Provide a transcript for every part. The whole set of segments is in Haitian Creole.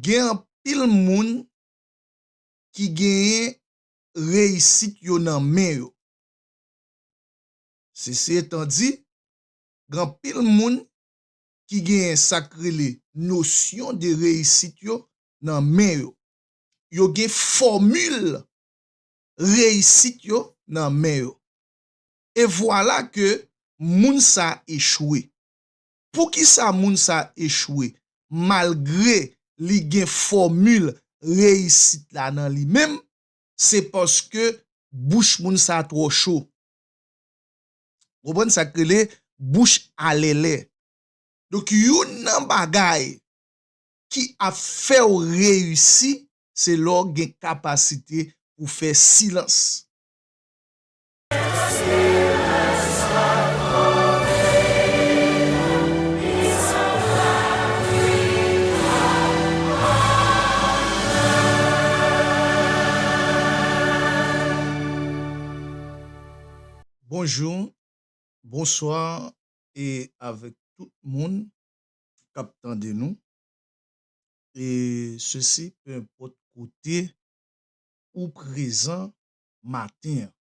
Gen anpil moun ki genyen reyisit yo nan men yo. Sesi etan di, gen anpil moun ki genyen sa k rele nosyon de reyisit yo nan men yo. Yo gen fòmil reyisit yo nan men yo. E vwala ke moun sa echwe. Poukisa moun sa echwe malgre li gen fòmil reyisit la nan li menm? Se paske bouch moun sa twò cho. Ou konprann sa k rele bouch alèlè. Donk youn nan bagay ki ap fè w reyisi se lè w gen kapasite pou fè silans. Bonjour, bonsoir e avèk tout moun kap tande nou e sesi pe enpòt kote ou prezan maten an.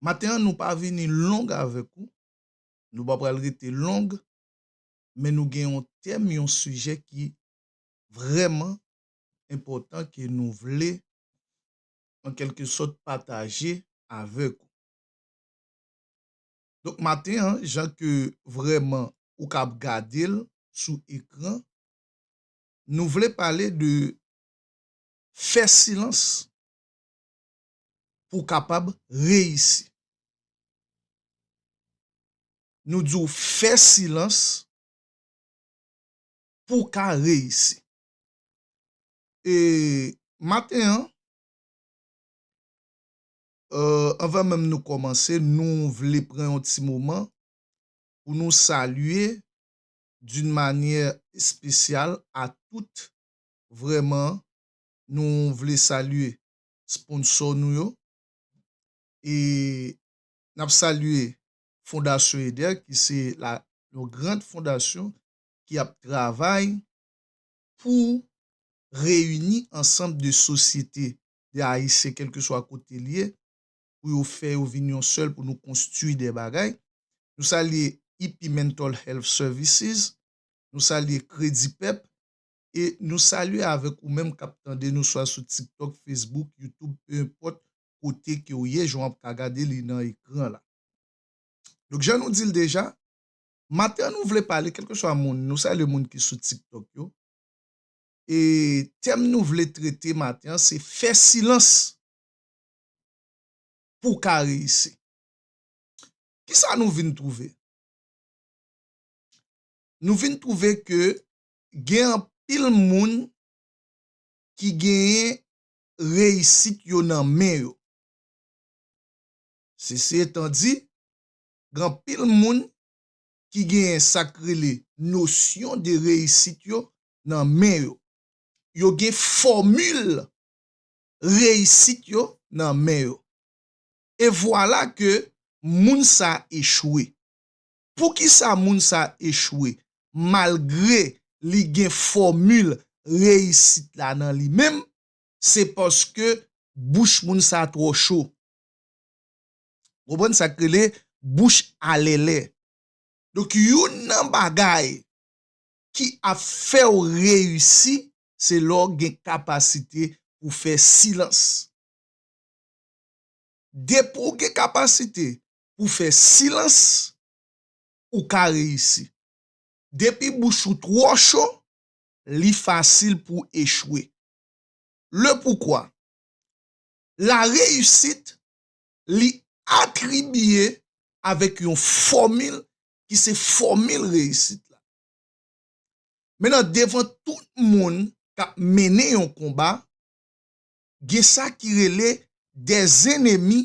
Maten an nou pa vini long avèk ou, nou pa pral rete long, men nou gen yon tèm, yon sijè ki vrèman enpòtan ke nou vle an kèlke sòt pataje avèk ou. Donk maten an, jan ke vrèman ou kab gade l sou ekran, nou vle pale de Fè silans pou w kapab reyisi. Nou di w fè silans pou w ka reyisi. E maten an, anvan menm nou kòmanse, nou vle pran yon ti moman pou nou salye d'une manière spéciale a tout vrèman nou vle salye sponsò nou yo e nap salye fondasyon eder ki se la yon grand fondasyon ki ap travay pou reyini ansanm de sosyete de ayisyen kelkeswa kote li ye pou yo fè yo vin yon sèl pou nou konstwi de bagay nou salye ip mental health services nou salye kredipep e nou salye avèk ou menm kap tande nou swa sou tiktok, facebook, youtube peu importe kote ke ou ye jan wap ka gade li nan ekran la. Donk jan nou dil deja, maten an nou vle pale kelke swa moun, nou salye moun ki sou tiktok yo, e tèm nou vle trete maten an se fè silans pou w ka reyisi. Kisa nou vin twouve? Nou vin twouve ke Gen anpil moun ki genyen reyisit yo nan men yo. Sesi etan di, gen anpil moun ki genyen sa k rele nosyon de reyisit yo nan men yo. Yo gen fòmil reyisit yo nan men yo. E vwala ke moun sa echwe. Poukisa moun sa echwe malgre li gen fòmil reyisit la nan li menm? Se paske bouch moun sa twò cho. Ou konprann sa k rele bouch alèlè. Donk youn nan bagay ki ap fè w reyisi se lè w gen kapasite pou fè silans. Depi w gen kapasite pou fè silans ou ka reyisi. Depi bouch ou twò cho, li fasil pou echwe. Le poukwa? La reyisit li atribiye avèk yon fòmil ki se fòmil reyisit la. Men nan devan tout moun k ap mennen yon konba, gen sa ki rele dè zenemi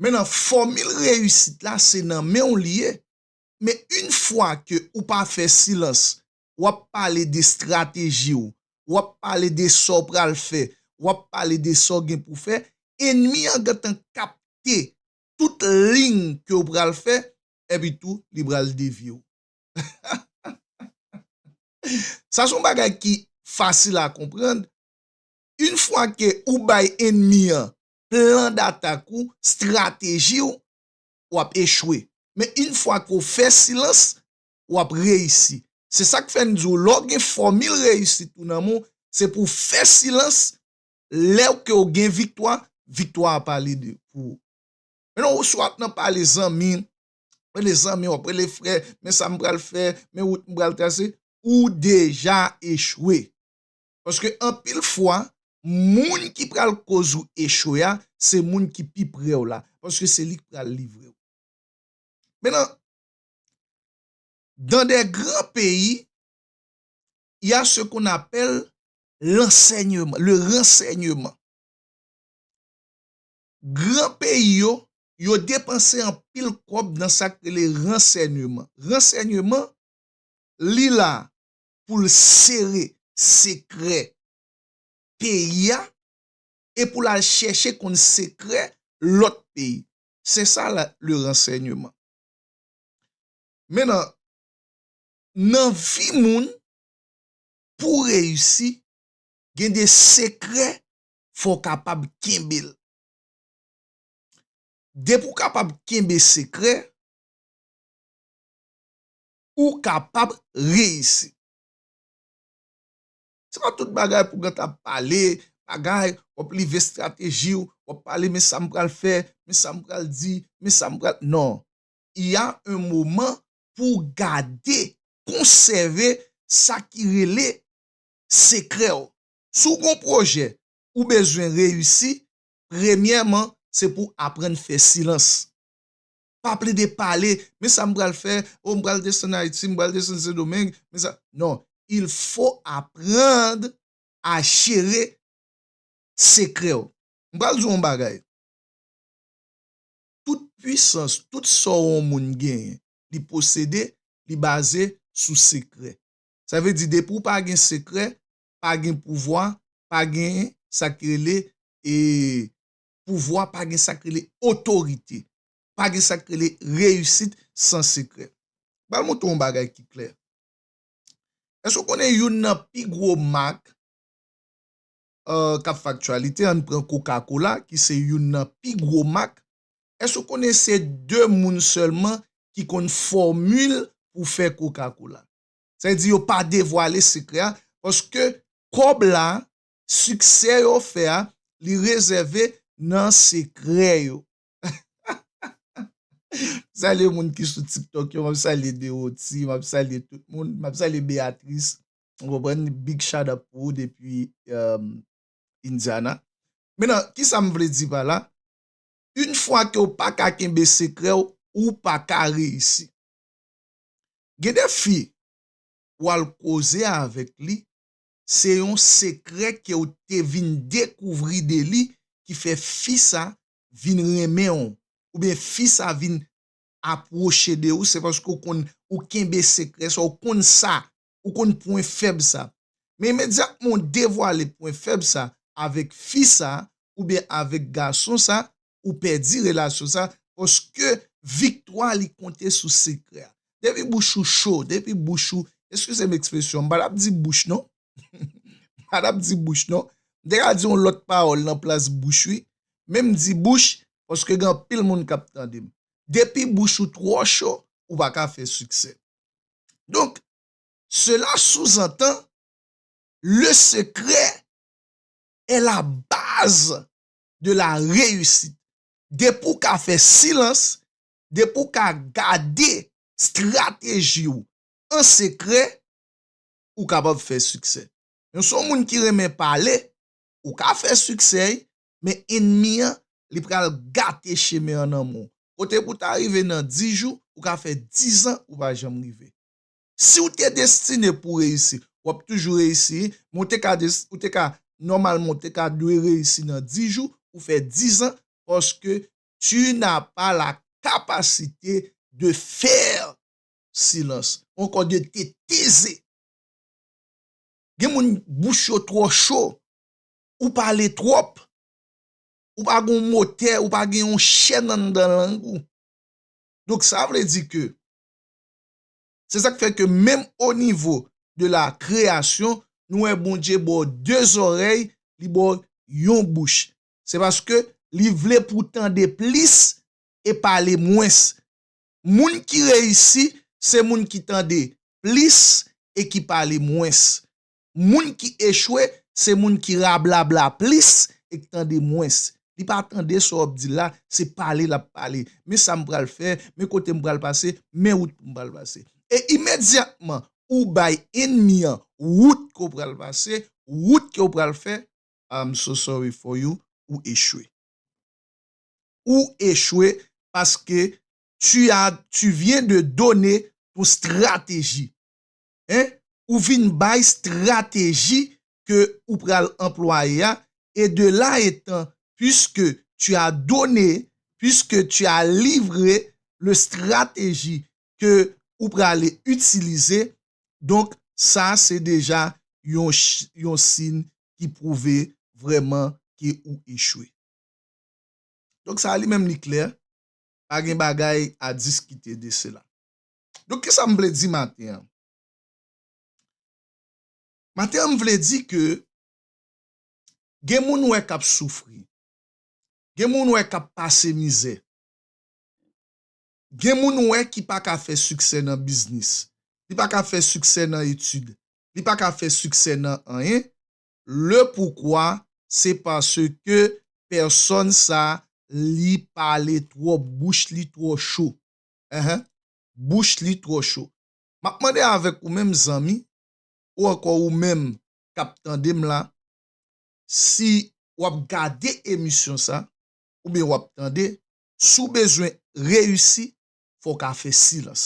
Men nan fòmil reyisit la se nan menw li ye men yn fwa ke ou pa fè silans wap pale de stratejiw wap pale de Saw pral fè wap pale de Saw gen pou fè enmi an gentan kapte tout lign kew pral fè epi tou li pral devyew hahahaha sa son bagay ki fasil a konprann yn fwa ke ou bay enmi an plan datak ou, strateji w, w ap echwe. Men yn fwa ke w fè silans, w ap reyisi. Se sa k fè n di w lè w gen fòmil reyisit ou nan men w, se pou w fè silans, lè ke w gen viktwa, viktwa a pale de pou ou. Men non si w ap nan pale zanmi, w ap rele zanmi, w ap rele frè, men sa m pral fè, men wout m pral trase, ou deja echwe. Paske anpil fwa, moun ki pral koz ou echwe a, se moun ki pi pre w la. Paske se li ki pral livre w. Men nan dans des grands pays, il y a ce qu'on appelle l'enseignement, le renseignement. Gran peyi yo, yo depanse anpil kòb nan sa k rele renseignement. Renseignement, li la pou l sere sekrè peyi a e pou l al chèche konn sekrè lòt peyi. Se sa le ransèyneman. Men nan, nan vi moun, pou w reyisi, gen de sekrè fò w kapab kenbe l. Depi w kapab kenbe sekrè, ou kapab reyisi. Se pa tout bagay pou gen ta ap pale, bagay, w ap live estrateji w, w ap pale men sa m pral fè, men sa m pral di, men sa m pral, non. Il y a un moment pou w gade, konsève sa ki rele sekrè w. Si w gen yon pwojè ou bezwen reyisi, premyèman se pou w aprann fè silans. pa plede pale men sa m pral fè oh m pral desann Ayiti m pral desann Sendomeng men sa non il fo aprann a jere sekrè w m pral di w yon bagay tout pwisans tout sa w yon moun genyen li posede li baze sou sekrè sa vle di depi w pa gen sekrè pa gen pouvwa pa gen sa ki rele e pouvwa pa gen sak rele otorite, pa gen sak rele reyisit san sekrè. Ba l montre w yon bagay ki klè. Èske w konnen youn nan pi gwo mak k ap fè aktyalite, an n pran koka kola ki se youn nan pi gwo mak, èske w konnen se 2 moun sèlman ki konn fòmil pou fè koka kola? Sa vle di yo pa devwale sekrè a paske kòb la siksè yo fè a li rezève nan sekrè yo m salye moun ki sou tiktok yo map salye Deroty map salye tout moun map salye Beatrice ou konprann big shout up pou ou depi Indiana men nan kisa m vle di pa la yn fwa ke w pa ka kenbe sekrè w ou pa ka reyisi gen de fi wal koze avèk li se yon sekrè kew te vin dekouvri de li ki fè fi sa vin renmenw oubyen fi sa vin apwoche de ou se paske ou konn ou kenbe sekrè sa ou konn sa ou konn pwen fèb sa men imedyatman ou devwale pwen fèb sa avèk fi sa oubyen avèk gason sa ou pèdi relasyon sa paske viktwa li konte sou sekrè a depi bouch ou cho depi bouch ou eskize m ekspresyon an m pa tap di bouch non m pa tap di bouch non m te ka di yon lòt pawòl nan plas bouch wi men m di bouch paske gen anpil moun kap tande m depi bouch ou twò cho ou pa ka fè siksè donk sela souzantan le sekrè è la baz de la reyusit. Depi w ka fè silans, depi w ka gade strateji w an sekrè, ou kapab fè siksè. Men si w moun ki renmen pale, ou ka fè siksè, men enmi an, li pral gate chemen an nan men w. Kote pou w ta rive nan 10 jou, ou ka fè 10 an ou pa janm rive. Si w te destine pou w reyisi, w ap toujou reyisi, men w te ka, ou te ka, nòmalman w te ka dwe reyisi nan 10 jou, ou fè 10 ans parce que tu n'as pas la capacité de faire silence ou ankò de te teze. Gen moun bouch yo twò cho, ou pale twòp, ou pa gen yon motè, ou pa gen yon chèn anndan lang ou. Donk sa vle di ke Se sak fè ke menm o nivo de la kreyasyon nou wè Bondye ba w 2 zòrèy, li ba w yon bouch. Se paske li vle pou w tande plis e pale mwens. Moun ki reyisi se moun ki tande plis e ki pale mwens. moun ki echwe se moun ki rablabla plis e k tande mwens. Li pa tande sa w ap di la, se pale l ap pale. Men sa m pral fè, men kote m pral pase, men wout pou m pral pase. E imedyatman ou bay enmi an wout ke w pral pase, wout ke w pral fè, I'm so sorry for you, ou echwe. Ou echwe paske tu as, tu viens de donner ton strategie. hein ou vin bay strateji ke ou pral anplwaye a et de là etant puisque tu as donne puisque tu as livre le strateji ke ou prale itilize donk sa se deja yon yon sin ki pwouve vrèman ke ou echwe donk sa li menm li klè pa gen bagay a diskite de sela. Donk kisa m vle di maten an? Maten an m vle di ke gen moun ou wè k ap soufri, gen moun ou wè k ap pase mizè, gen moun ou wè ki pa ka fè siksè nan biznis, li pa ka fè siksè nan etid, li pa ka fè siksè nan anyen, le poukwa se paske pèsòn sa li pale twòp, bouch li twò cho. enh bouch li twò cho map mande avèk ou menm zanmi ou ankò ou menm kap tandem la si wap gade emisyon sa oubyen wap tande si w bezwen reyisi fò w ka fè silans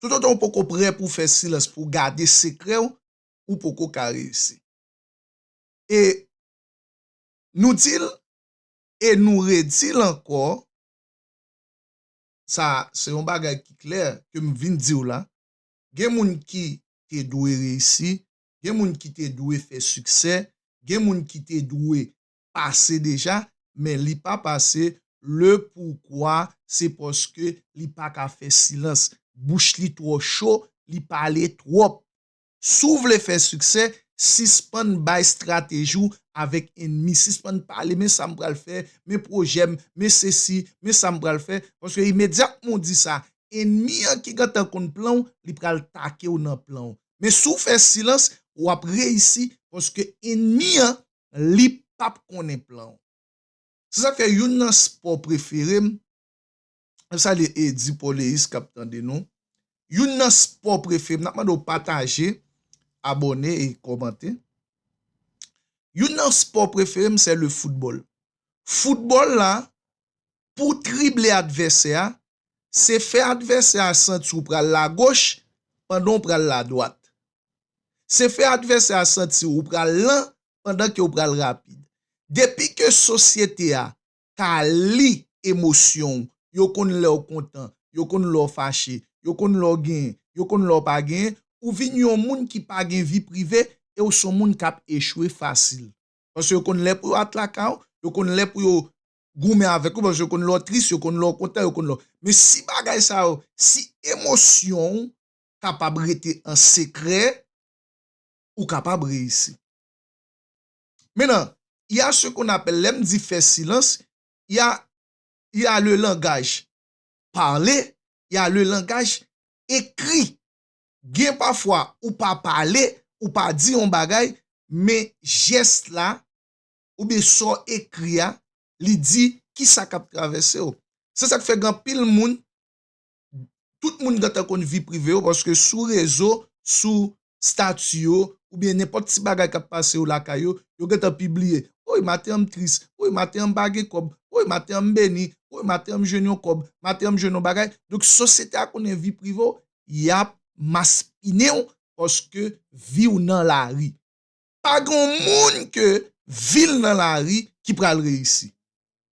tout otan ou poko prè pou w fè silans pou w gade sekrè w ou poko ka reyisi e nou di l e nou redi l ankò sa se yon bagay ki klè ke m vin di w la, gen moun ki te dwe reyisi, gen moun ki te dwe fè siksè, gen moun ki te dwe pase deja, men li pa pase, le poukwa se paske li pa ka fè silans, bouch li twò cho, li pale twòp. Si w vle fè siksè, sispann bay estrateji w avèk enmi. Sispann pale, men sa m pral fè, men pwojè m, men sesi, men sa m pral fè. Paske imedyatman w di sa, enmi an ki gentan konn plan w, li pral take w nan plan w. Men si w fè silans, w ap reyisi paske enmi an, li pap konnen plan w. Se sa k fè youn nan spò prefere m, Mwen salye Eddy Pauleis kap tande nou. Youn nan sport prefem nap mande w pataje, abone e komante. Youn nan sport preferem se le football. Football la pou trible advèsè a se fè advèsè a santi w pral lagoch pandan w pral ladwat. Se fè advèsè a santi w pral lan pandan ke w pral rapid. Depi ke sosyete a ka li emosyon w, yo konn lè w kontan, yo konn lè w fache, yo konn lè w genyen, yo konn lè w pa genyen, ou vin yon moun ki pa gen vi prive e w s on moun k ap echwe fasil. Paske yo konn lè pou yo atlaka w, yo konn lè pou yo goumen avèk ou paske yo konn lè w tris, yo konn lè w kontan, yo konn lè w. Men si bagay sa yo, si emosyon w kapab rete an sekrè, ou kapab reyisi. Mennan, y a ce qu'on appelle, lè m di fè silans, y a, y a le langage parlé, y a le langage écrit. Gen pafwa ou pa pale, ou pa di yon bagay, men jès la oubyen sa w ekri a, li di ki sa k ap travèse w. Se sa k fè gen anpil moun tout moun gentan konn vi prive yo paske sou rezo, sou stati yo oubyen nenpòt ti bagay k ap pase yo lakay yo, yo gentan pibliye, woy maten an m tris, woy maten an m pa gen kòb, woy maten an m beni, woy maten an m jwenn yon kòb, maten an m jwenn yon bagay. Donk sosyete a konnen vi prive w, y ap maspinen w paske vi w nan lari. Pa gen yon moun ke vi l nan lari ki pral reyisi.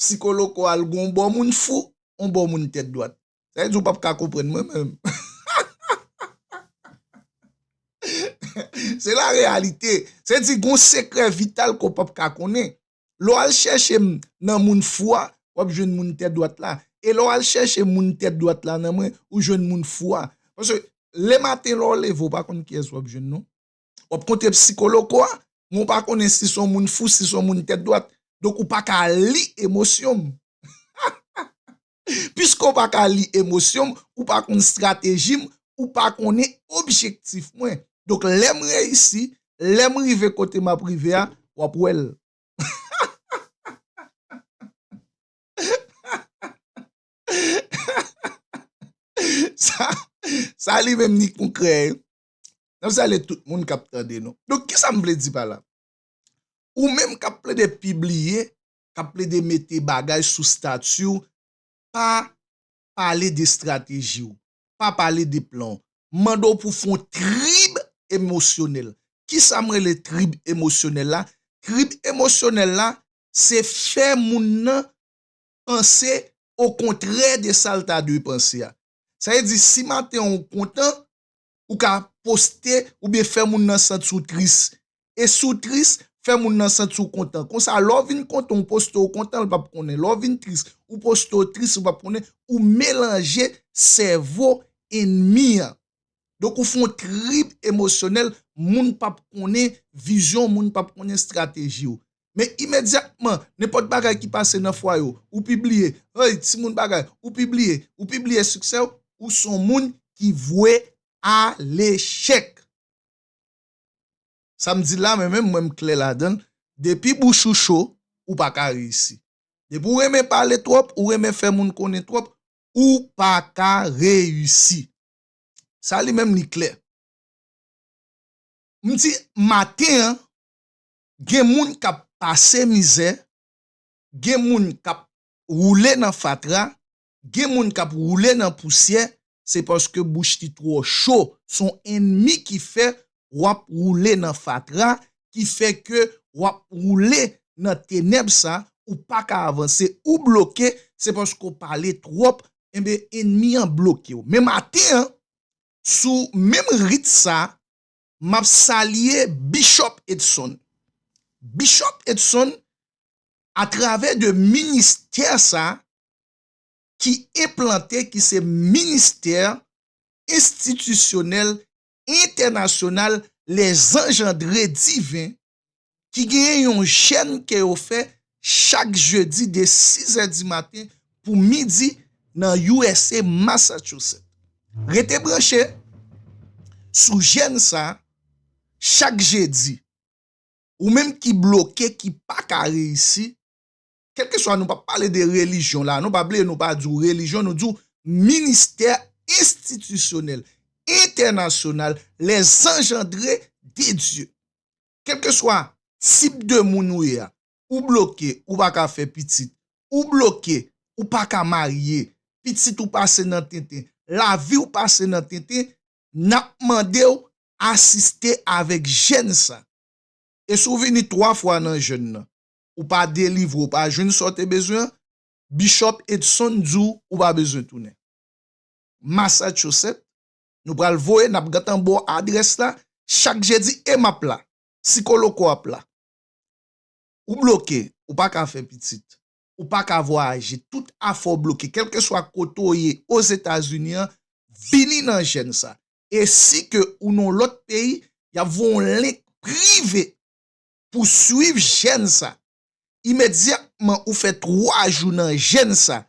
Psikoloko al gon bò moun fou, on bò moun tèt dwat. Sa vle di ou pap ka konprann mwen menm. Se la reyalite. Sa vle di gon sekrè vital ke w pap ka konnen. Lè w al chèche m nan moun fou a, w ap jwenn moun tèt dwat la. E lè w al chèche moun tèt dwat la nan mwen, ou jwenn moun fou a. Paske le maten lè w leve ou pa konn kiyès w ap jwenn non. Wap kontre psikoloko a, men ou pa konnen si son moun fou, si son moun tèt dwat. Donk ou paka li emosyon m. Piske ou paka li emosyon m, ou pa konn strateji m, ou pa konnen objektif mwen. Donk lè m reyisi, lè m rive kote m ap rive a, wap wè l. Sa li menm ni konkrè. N ap salye tout moun k ap tande nou. Donk, ki sa m vle di pa la? Ou menm k ap plede pibliye, k ap plede mete bagay sou stati w, pa pale de estrateji w, pa pale de plan w. M mande w pou w fè yon trib emosyonèl. Ki sa m rele trib emosyonèl la? Trib emosyonèl la, se fè moun nan panse okontrè de sa l ta dwe panse a. Sa vle di si maten w kontan, Ou ka poste oubyen fè moun nan santi w tris. E si w tris, fè moun nan santi w kontan. Konsa lè w vin kontan ou poste w kontan l pap konnen. Lè w vin tris ou poste w tris li pap konnen. Ou melanje sèvo enmi an. Donk ou fon trip emosyonèl moun pap konnen vizyon w moun pap konnen estrateji w. Men imedyatman nenpòt bagay ki pase nan fwaye w, ou pibliye, hey timoun bagay, ou pibliye, ou pibliye siksè w, ou s on moun ki vwe a lechèk. Sa m di la mwen menm mwen m klè ladan l, depi bouch ou cho, ou pa ka reyisi. Depi w renmen pale twòp, ou renmen fè moun konnen twòp, ou pa ka reyisi. Sa li menm li klè. M di maten an, Gen moun kap pase mizè, gen moun kap woule nan fatra, gen moun kap woule nan pousyè, se paske bouch li twò cho, son enmi ki fè wap woule nan fatra, ki fè ke wap woule nan tenèb sa, ou paka avanse, ou bloke, se paske ou pale twòp, enben enmi an blokew. Men maten an, sou menm rit sa, Map salye Bishop Edson. Bishop Edson a travè de ministè sa ki enplante ki se ministè enstitisyonèl entènasyonal les anjandre diven ki genyen yon jèn ke yo fè chak jedi de 6 zè di maten pou midi nan usa Massachusetts. Rete branche sou jèn sa chak jedi. Ou menm ki bloke ki paka reyisi kelkeswa nou pa pale de relijyon la nou pa ble nou pa di w relijyon nou di w ministè enstitisyonèl entènasyonal lèzanjandre de Dye kelkeswa tip de moun ou ye a ou bloke ou pa ka fè pitit ou bloke ou pa ka marye pitit ou pase nan tenten lavi w pase nan tenten n ap mande w asiste avèk jèn sa e si w vini 3 fwa nan jèn nan ou pa delivre ou pa jwenn sa w te bezwen an, Bishop Edson di w ou pa bezwen tounen. Massachusetts, nou pral voye n ap gentan ba w adrès la chak jedi e m ap la, Sikoloco ap la. Ou bloke, ou pa ka fè pitit, ou pa ka vwayaje, tout afè w bloke kèlkeswa kote w ye Ozetazini an, vini nan jèn sa e si ke ou nan w lòt peyi, y ap voye w yon link prive pou swiv jèn sa. Imedyatman ou fè 3 jou nan jèn sa,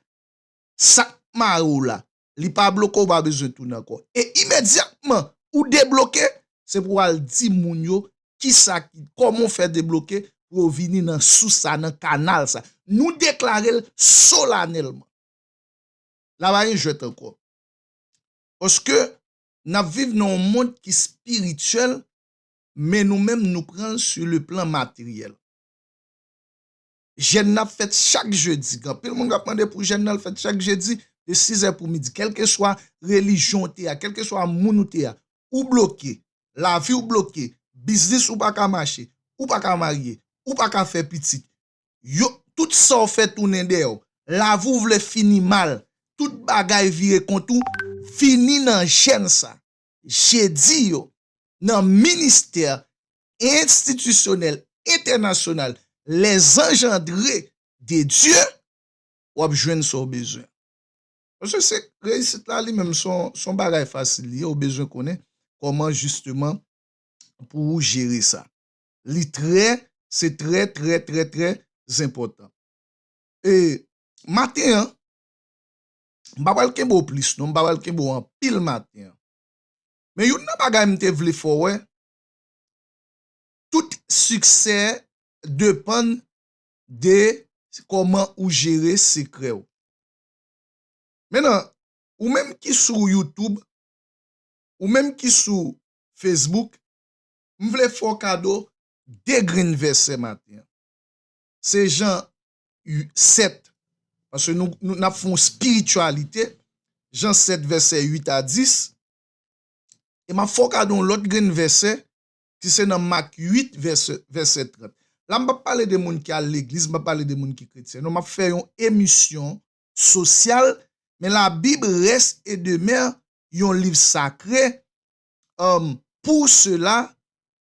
sa k mare w la, li pa bloke ou pa bezwen tounen ankò. E imedyatman ou debloke, se pou w al di moun yo kisa ki, kòman w fè debloke pou yo vini nan sous sa, nan kanal sa. Nou deklare l solanèlman. La pa gen jwèt ankò. Paske n ap viv nan yon mond ki espirityèl, men nou menm nou pran l su le plan materyèl. Jèn nan ap fèt chak jedi, gen anpil moun k ap mande pou jèn nan l fèt chak jedi de sizè pou midi. Kèlkeswa relijyon ou te a, kèlkeswa moun ou te a, ou bloke, lavi w bloke, biznis ou pa ka mache, ou pa ka marye, ou pa ka fè pitit, yo, tout sa w fè tounen dèyè w, lavi w vle fini mal, tout bagay vire kont ou, vini nan jèn sa. jedi yo nan ministè enstitisyonèl entènasyonal Les Engendrés de Dieu, w ap jwenn sa w bezwen. Paske se reyisit la li menm se yon bagay fasil li ye, ou bezwen konnen kòman jisteman pou ou jere sa. Li trè, se trè trè trè trè zenpòtan. E maten an, M pa pral kenbe w plis non, m pa pral kenbe w anpil maten an. Men youn nan bagay m te vle fè w wè, tout siksè depann de kòman ou jere sekrè w. Menan, ou menm ki sou YouTube, ou menm ki sou Facebook, m vle fè w kado 2 grenn vèsè maten an. Se jan u 7 paske nou nou nap fè yon spiritualité Jean 7 verset 8 a 10 e map fè w kado yon lòt grenn vèsè ki se nan Marc 8 verset verset 30 la m pap pale de moun ki al legliz m pap pale de moun ki kretyen non map fè yon emisyon sosyal men la bib rès e demè yon liv sakre Pou sela,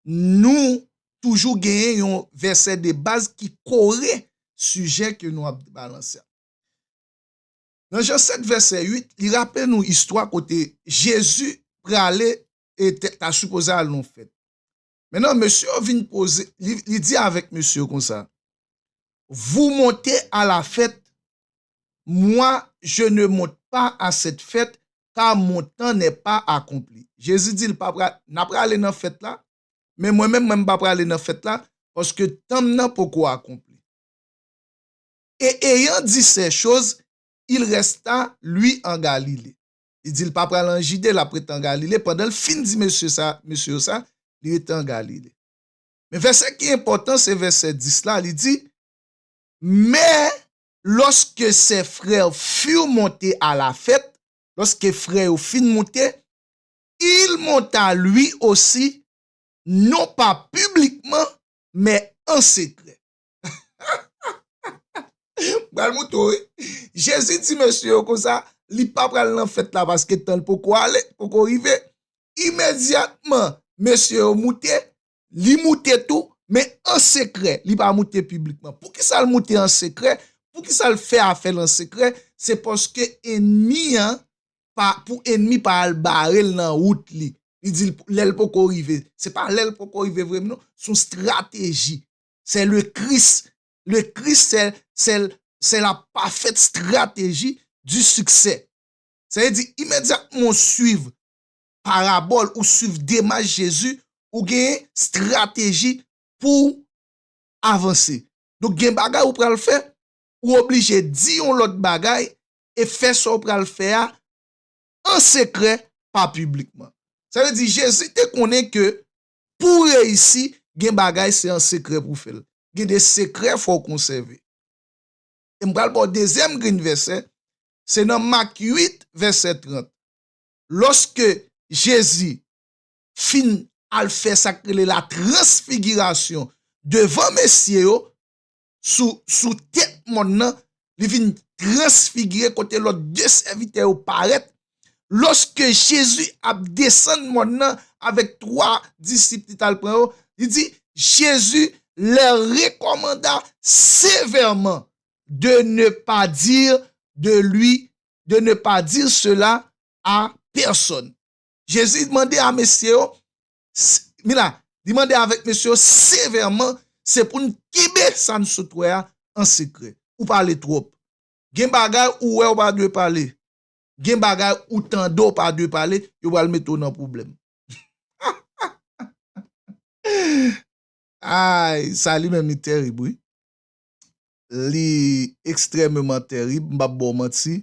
nou toujou genyen yon vèsè de baz ki kore sijè ke nou ap balanse a. Nan Jan 7 vèsè 8, li raple nou istwa kote Jezi prale e ta sipoze al nan fèt. Men nan mesye yo vin poze, li di avèk mesye yo konsa, Vou monte a la fèt Moi, je ne monte pas à cette fête, car mon temps n'est pas accompli. Jezi di l pa pral, N a prale nan fèt la, men mwen menm, mwen m pa prale nan fèt la, paske tan m nan poko akonpli. Et ayant dit ces choses, il resta, lui, en Galilée. Li di l pa pral an Jide, l ap ret an Galile. Pandan l fin di mesye sa, mesye yo sa, li rete an Galile. Men vèsè ki enpòtan se vèsè 10 la, li di, Men, lòske sè frère furent montés à la fête, lòske frè yo fin moute, il monta lui aussi, non pas publiquement, mais en secret. M pral moute w wi. Jezi di mesye yo konsa, li pa pral nan fèt la paske tan l poko ale, poko rive. Imedyatman, mesye yo moute, Li moute tou, men an sekrè, li pa moute piblikman. Poukisa l moute an sekrè? Poukisa l fè afè l an sekrè? Se paske enmi an, pou enmi pa al bare l nan wout li. Li di l lè l poko rive. Se pa lè l poko rive vre non, se yon strateji. Se le Kris. Le Kris se la pafèt strateji di siksè. Sa vle di imedyatman w suiv parabòl ou swiv demach Jezi ou gen strateji pouw avanse. Donk gen bagay ou pral fè ou oblije di yon lòt bagay e fè sa ou pral fè a an sekrè pa piblikman. Sa vle di Jezi te konnen ke pouw reyisi gen bagay se an sekrè pou fèl. Gen de sekrè fòw konsève. E m pral baw dezyèm grenn vèsè se nan Mak 8 vèsè 30. lòske Jezi fin al fè sa k rele la transfigirasyon devan mesye yo sou tèt mòn nan, li vin transfigire kote lòt de sèvitè yo parèt, lòske Jezi ap desann mòn nan avèk twa disip li t al pran yo, li di, Jezi lèr rekòmanda sevèman de ne pa dir de li de ne pas dire cela a personne. Jezi mande a mesye yo, mi la, li mande avèk mesye yo sevèman, se pou n kenbe sa n sot wè a an sekrè. Ou pale twòp. Gen bagay ou wè ou pa dwe pale. Gen bagay ou tande ou pa dwe pale, yo pral mete w nan pwoblèm. Ay, sa li menm li tèrib wi. li ekstrèmeman tèrib, m p ap ba w manti,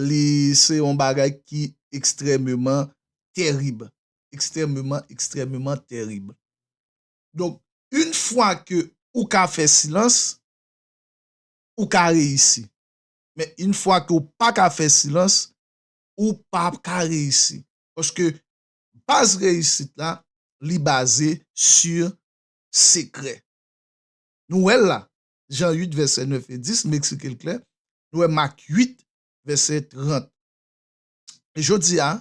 li se yon bagay ki ekstrèmeman tèrib, ekstrèmeman, ekstrèmeman tèrib. Donk, in fwa ke ou ka fè silans, ou ka reyisi. Men, in fwa ke ou pa ka fè silans, ou pa ka reyisi. Paske, baz reyisit la, li baze sur sekrè. Nou wè l la, Jan 8 vèsè 9 e 10, m eksplike l klè, nou wè Mak 8 vèsè 30. Jodi a,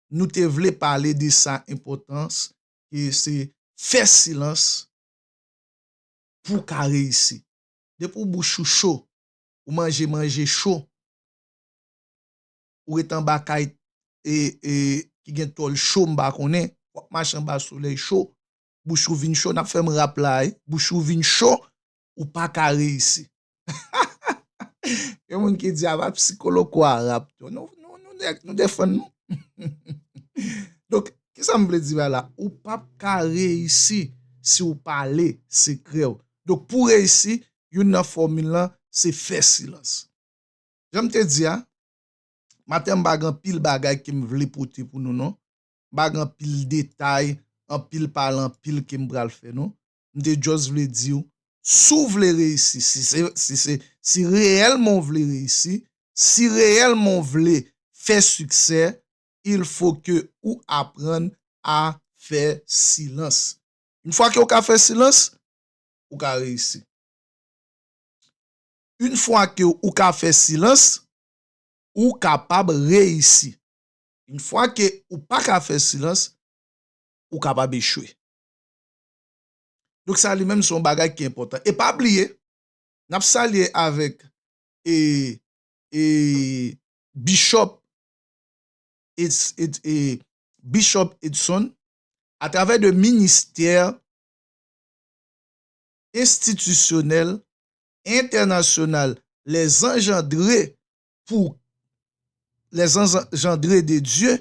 nou te vle pale de sa enpòtans ke se fè silans pou w ka reyisi. Depi w bouch ou cho, ou manje manje cho, ou ret anba kay ki gen tòl cho m pa konnen, w ap mache anba solèy cho, bouch ou vin cho nap fè m rap la wi bouch ou vin cho ou pa ka reyisi hahahaha gen moun ki di aba psikoloco a rap tou nou nèg nou defann nou hummhumm donk kisa m vle di bay la ou pap ka reyisi si ou pale sekrè ou donk pou reyisi youn nan fòmil lan se fè silans jan m te di a maten m pa gen anpil bagay ke m vle pote pou nou non bag anpil detay, anpil pale anpil kem pral fè non. M te just vle diw si w vle reyisi, si se si reyèlman w vle reyisi, si reyèlman w vle fè siksè, il faut ke ou aprann a fè silans. Une fwa ke w ka fè silans, ou ka reyisi. Une fwa ke ou ka fè silans, ou kapab reyisi. Une fwa ke ou pa ka fè silans, ou kapab echwe. Donk sa li menm se yon bagay ki enpòtan. E pa bliye, n ap salye avèk Bishop Edson atravè de Ministè Enstitisyonèl Entènasyonal Lèzanjandre pou Les Engendrés de Dieu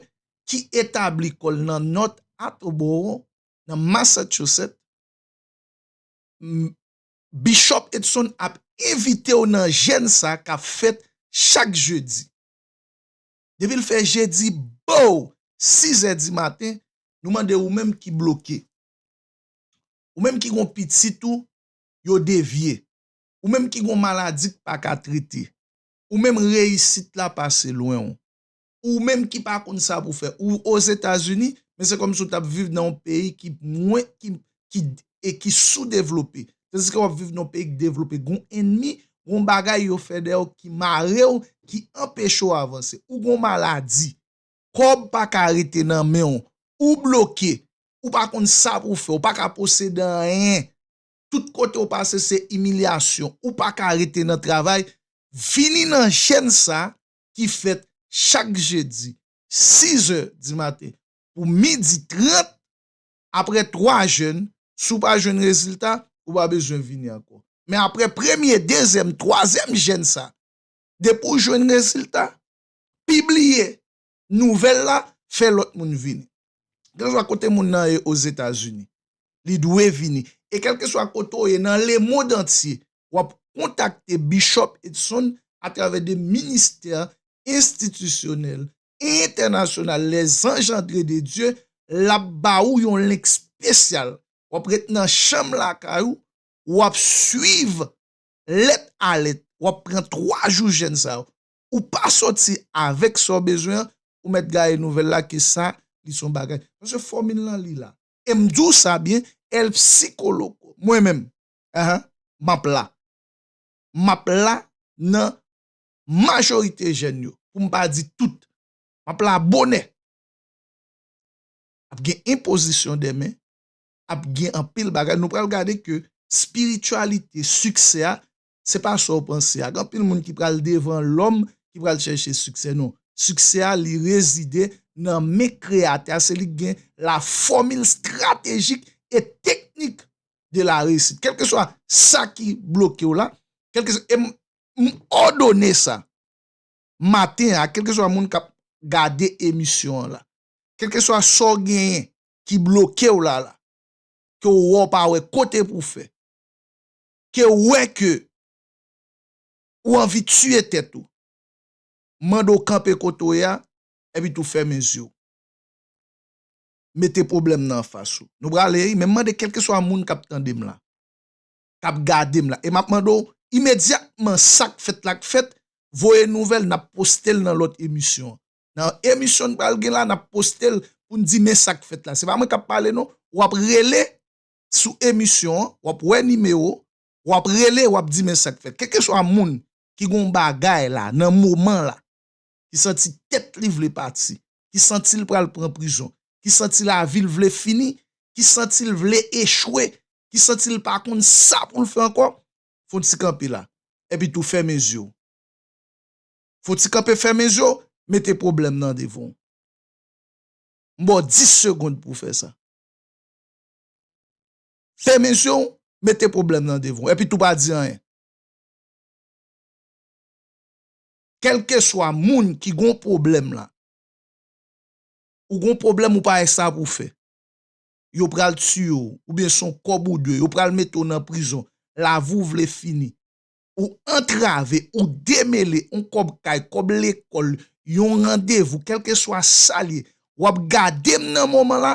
ki etabli kò l nan North Attleboro, nan Massachusetts, Bishop Edson ap envite w nan jèn sa k ap fèt chak jedi. Depi l fè jedi bow sizè dimaten, nou mande ou menm ki bloke, ou menm ki gen yon pitit ou yo devye, Ou menm ki gon maladi k pa ka trete Ou menm reyisit la pase lwen w Ou menm ki pa konn sa pou fè Ou ozetazini men se kòmsi w t ap viv nan yon peyi ki mwen ki ki e ki soudevlope tandiske w ap viv nan yon peyi k devlope gon ennmi gon bagay yo fè dèyè w ki mare w ki anpeche w avanse Ou gon maladi kòb pa ka rete nan men w Ou bloke Ou pa konn sa pou w fè Ou pa ka posede anyen tout kote ou pase se imilyasyon ou pa ka rete nan travay vini nan chèn sa ki fèt chak jedi 6 zè di maten pou midi 30 aprè 3 jèn si w pa jwenn rezilta ou pa bezwen vini ankò men aprè premye dezyèm twazyèm jèn sa depi w jwenn rezilta pibliye Nouvèl la fè lòt moun vini. Kèlkeswa kote moun nan ye Ozetazini, li dwe vini. E kèlkeswa kote w ye nan lemond antye, w ap kontakte Bishop Edson atravè de ministè enstitisyonèl entènasyonal Les Engendrés de Dieu, l ap ba ou yon link spesyal. W ap ret nan chanm lakay ou, w ap swiv lèt a lèt. W ap pran 3 jou jèn sa yo. ou pa soti avèk sa w bezwen an, ou mèt gaye nouvèl la ke sa li se yon bagay. Paske fòmil lan li la. E m di w sa byen, El Psicologo, mwen menm, ehe, m ap la. M ap la nan majorite jèn yo, pou m pa di tout. M ap la bonè. Ap gen enpozisyon de men, ap gen anpil bagay. Nou pral gade ke spirityalite siksè a Se pa sa w panse a. Gen anpil moun ki pral devan lòm ki pral chèche siksè. Non. Siksè a li rezide nan men Kreyatè a. Se li ki gen la fòmil stratejik e teknik de la reyisit. Kèlkeswa sa ki bloke w la, kèlkeswa, e m òdone sa maten a, kèlkeswa moun k ap gade emisyon an la, kèlkeswa sa w genyen ki bloke w la la, ke w wè w pa wè kote pou w fè, ke ou wè ke ou anvi tiye tèt ou, m mande w kanpe kote w ye a, epi tou fèmen zye w. Mete pwoblèm nan anfas ou. Nou prale ri, men m mande kèlkeswa moun k ap tande m la, k ap gade m la, e m ap mande w imedyatman sa k fèt la k fèt, voye nouvèl, n ap poste l nan lòt emisyon an. Nan emisyon n pral gen la, n ap poste l pou n di men sa k fèt la. Se pa mwen k ap pale non, w ap rele sou emisyon an, wap wè nimewo, wap rele wap di men sak fèt. Kèlkeswa moun ki gon bagay la nan moman la, ki santi tèt li vle pati, ki santil pral pran prizon, ki santi lavil vle fini, ki santil vle echwe, ki santil pa konn sa poul fè ankò, fon ti kanpe la. Epi tou fèmen zyew. Fon ti kanpe fèmen zyew, mete pwoblèm nan devanw. M baw 10 segond pou fè sa. Femen je w, mete pwoblèm nan devan w, epi tou pa di anyen. Kèlkeswa moun ki gon pwoblèm la, ou gon pwoblèm ou pa gen sa pou w fè, yo pral tiye w, oubyen se yon kòb ou dwe, yo pral mete w nan prizon, lavi w vle fini, ou antrave, ou demele, yon kòb kay, kòb lekòl, yon randevou, kèlkeswa sa l ye, w ap gade m nan moman la,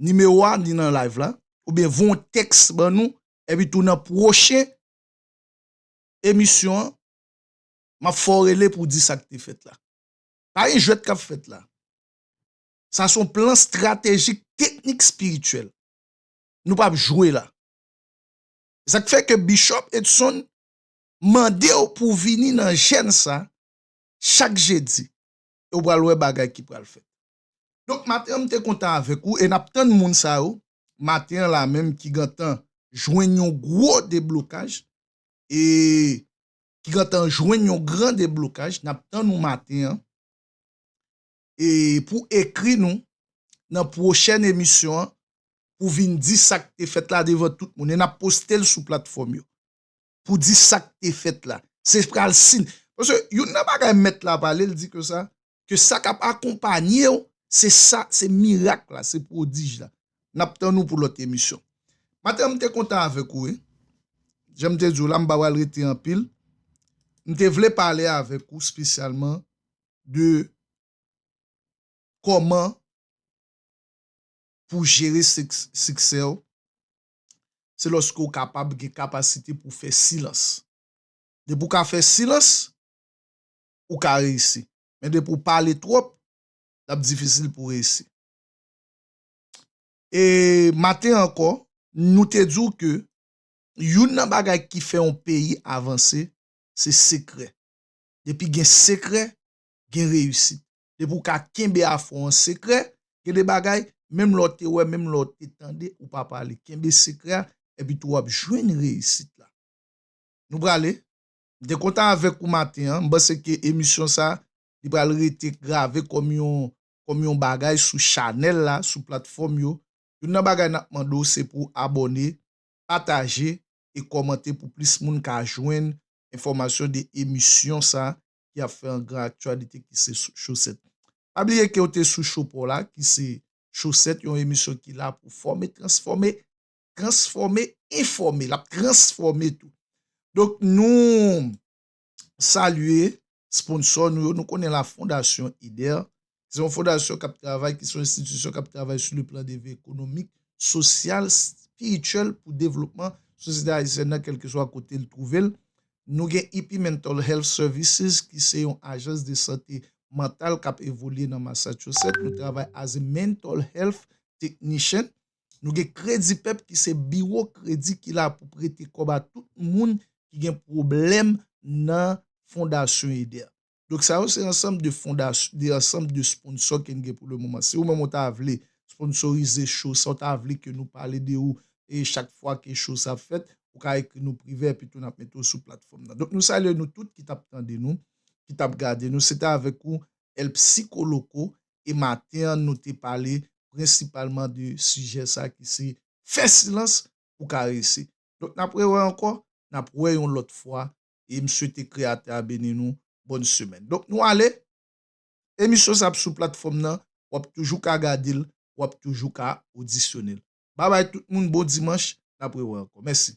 nimewo a ni nan live la oubyen voye yon tèks ban nou epi tou nan pwochen emisyon an map fè w rele pou w di sa k te fèt la pa gen jwèt kap fèt la sa se yon plan stratejik teknik espirityèl nou pap jwe la se sak fè ke Bishop Edson mande w pou w vini nan jèn sa chak jedi e w pral wè bagay ki pral fèt. Donk maten an m te kontan avèk ou e n ap tann moun sa yo maten an la menm ki gentan jwenn yon gwo deblokaj e ki gentan jwenn yon gran deblokaj n ap tann ou maten an e pou ekri nou nan pwochèn emisyon an pou vin di sa k te fèt la devan tout moun e n ap poste l sou platfòm yo. pou di sak te fèt la. Se pral sin. Paske youn nan bagay mèt la pale l di ke sa, ke sa kap akonpanye w, se sa, se mirak la, se pwodij la. Nap tann ou pou lòt emisyon. Maten an m te kontan avèk ou wi. Jan m te di w la m pa pral rete anpil. M te vle pale avèk ou spesyalman de kòman pou jere siksè w. se lòske ou kapab gen kapasite pou fè silans. Depi ou ka fè silans, ou ka reyisi. Men depi ou pale twòp, l ap difisil pou reyisi. E maten an ankò, nou te di w ke youn nan bagay ki fè yon peyi avanse, se sekrè. Depi gen sekrè, gen reyisit. Depi ou ka kenbe afè w an sekrè, gen de bagay, menm lè w te wè, menm lè w te tande, ou pa pale. Kenbe sekrè a, epi tou w ap jwenn reyisit la. Nou prale. M te kontan avèk ou maten an. M panse ke emisyon sa, li pral rete grave kòm yon, kòm yon bagay sou chanèl la, sou platfòm yo. Youn nan bagay n ap mande w se pou w abòne, pataje e kòmante pou plis moun ka jwenn enfòmasyon de emisyon sa ki ap fè angra aktyalite ki se Sou Chosèt. Pa bliye ke w te sou Cho pa w la ki se Chosèt, yon emisyon ki la pou fòme, transfòme, transfòme, enfòme. L ap transfòme tou. Donk nou salye sponsò nou yo. Nou konnen la Fondasyon Eder Se yon fondasyon k ap travay, ki se yon enstitisyon k ap travay sou le plan de vi ekonomik, sosyal, spirityèl pou devlopman sosyete ayisyèn nan kèlkeswa kote l twouve l. Nou gen Hippie Mental Health Services ki se yon ajans de sante mantal k ap evolye nan Massachusetts. Nou travay as a mental health technician. Nou gen Kredipep ki se biwo kredi ki la pou prete kòb a tout moun ki gen pwoblèm nan Fondasyon Eder. Donk sa yo se ansanm de fondas, de ansanm de sponsò ke n gen pou le moman. Si ou menm ou ta vle sponsorize show sa, ou ta vle ke nou pale de ou e chak fwa ke show sa ap fèt, ou ka ekri nou prive epi tou n ap mete ou sou platfòm nan. Donk nou salye nou tout ki t ap tande nou, ki t ap gade nou. Se te avèk ou El Psicoloco e maten an nou te pale prensipalman de sijè sa ki se fè silans pou karese. Donk n ap rewè ankò, n ap wè yon lòt fwa e m swete kreyatè a beni nou bòn semèn donk nou ale emisyon sa ap sou platfòm nan wap toujou ka gadel wap toujou ka odisyonel babay tout moun bon dimanch nap rewè ankò mèsi.